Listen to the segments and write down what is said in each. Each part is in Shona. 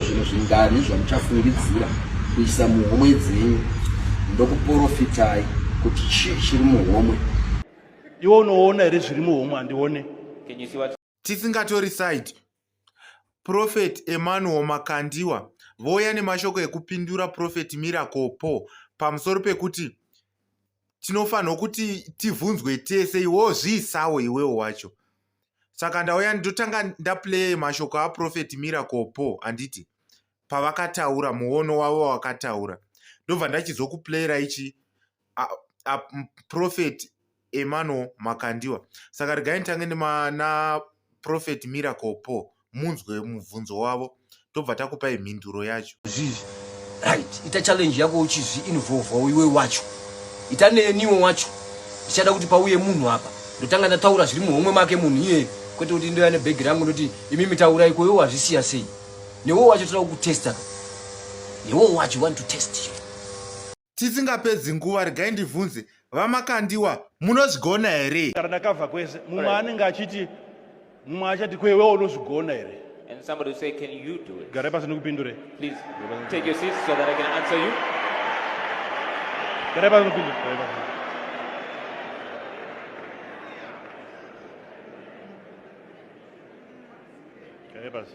Zvimwe zvingani zvamuchafungidzira kuisa muhomwe dzenyu ndokuprofitai kuti chii chiri muhomwe. Iwe unoona here zviri muhomwe handione? Tisingatori side, Prophet Emmanuel Makandiwa vouya nemashoko ekupindura Prophet Miracle Paul pamusoro pekuti tinofanirwa kuti tibvunzwe tese iwewo zviisawo iwewo wacho saka ndauya ndotanga ndaplay mashoko aprofeti miracle po handiti pavakataura muono wavo wakataura ndobva ndachizokuplayera ichi aprofeti emano makandiwa saka regai nditange naprofeti miracle po munzwe mubvunzo wavo tobva takupai mhinduro yacho zvivi right ita challenge yako uchizvi involvawo iwe wacho ita neniwo wacho ndichada kuti pauye munhu apa ndotanga ndataura zviri muhomwe make munhu iye kwete kuti ndoya nebhegi rangu ndoti imi mitaura iko iwo wazvisiya sei newo wacho toda kukutesta newo wacho want to test you tisingapedzi nguva regai ndibvunze vamakandiwa munozvigona here kana ndakabva kwese mumwe anenge achiti mumwe achati kwewe unozvigona here And somebody will say, Can you do it? Gare pasi nikupindure. Please take your seats so that I can answer you. Gare pasi nikupindure. Gare pasi.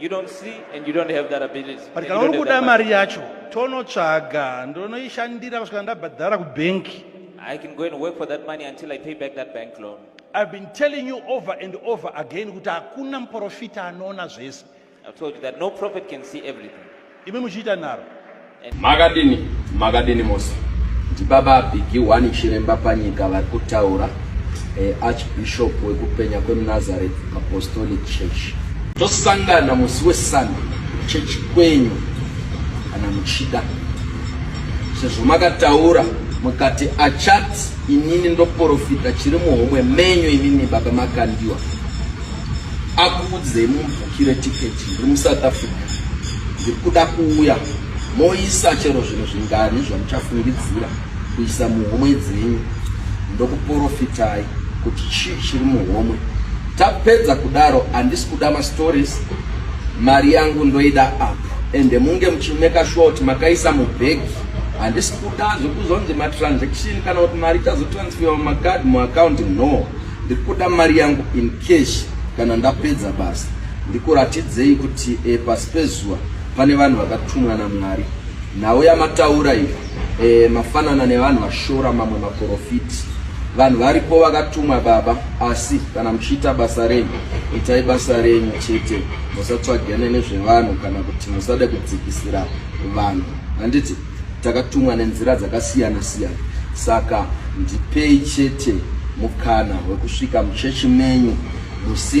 You don't see and you don't have that ability. But kana uri kuda mari yacho tonotsvaga ndonoishandira kusvika ndabhadhara kubanki. I can go and work for that money until I pay back that bank loan. I've been telling you over and over again kuti hakuna muprofita anoona zvese. I've told you that no prophet can see everything. imi muchiita nharo makadini makadini mose ndibaba bigi wani chiremba panyika vari kutaura eh, archbishop wekupenya kwemunazareth apostolic church tosangana musi wesunday chechi kwenyu kana muchida sezvo makataura mukati achati inini ndoporofita chiri muhomwe menyu inini baba makandiwa akuudzei Kire ticket ndiri muSouth Africa ndiri kuda kuuya moisa chero zvinhu zvingani zvamuchafungidzira kuisa muhomwe dzenyu ndokuprofitai kuti chii chiri muhomwe tapedza kudaro handisi kuda mastories mari yangu ndoida apo ende munge muchimeka short makaisa mubhegi handisi kuda zvekuzonzi matransaction kana kuti mari ichazotransfera mumacard muaccounti no Ndikuda mari yangu in cash kana ndapedza basa. Ndikuratidzei kuti e, pasi pezuva pane vanhu vakatumwa naMwari. Nhau yamataura iyi e, mafanana nevanhu vashora mamwe maprofiti. Vanhu varipo vakatumwa baba, asi kana muchiita basa renyu, itai basa renyu chete, musatsvagane nezvevanhu kana kuti musade kudzikisira vanhu. Handiti? Takatumwa nenzira dzakasiyana siyana, saka ndipei chete mukana wekusvika muchechi menyu musi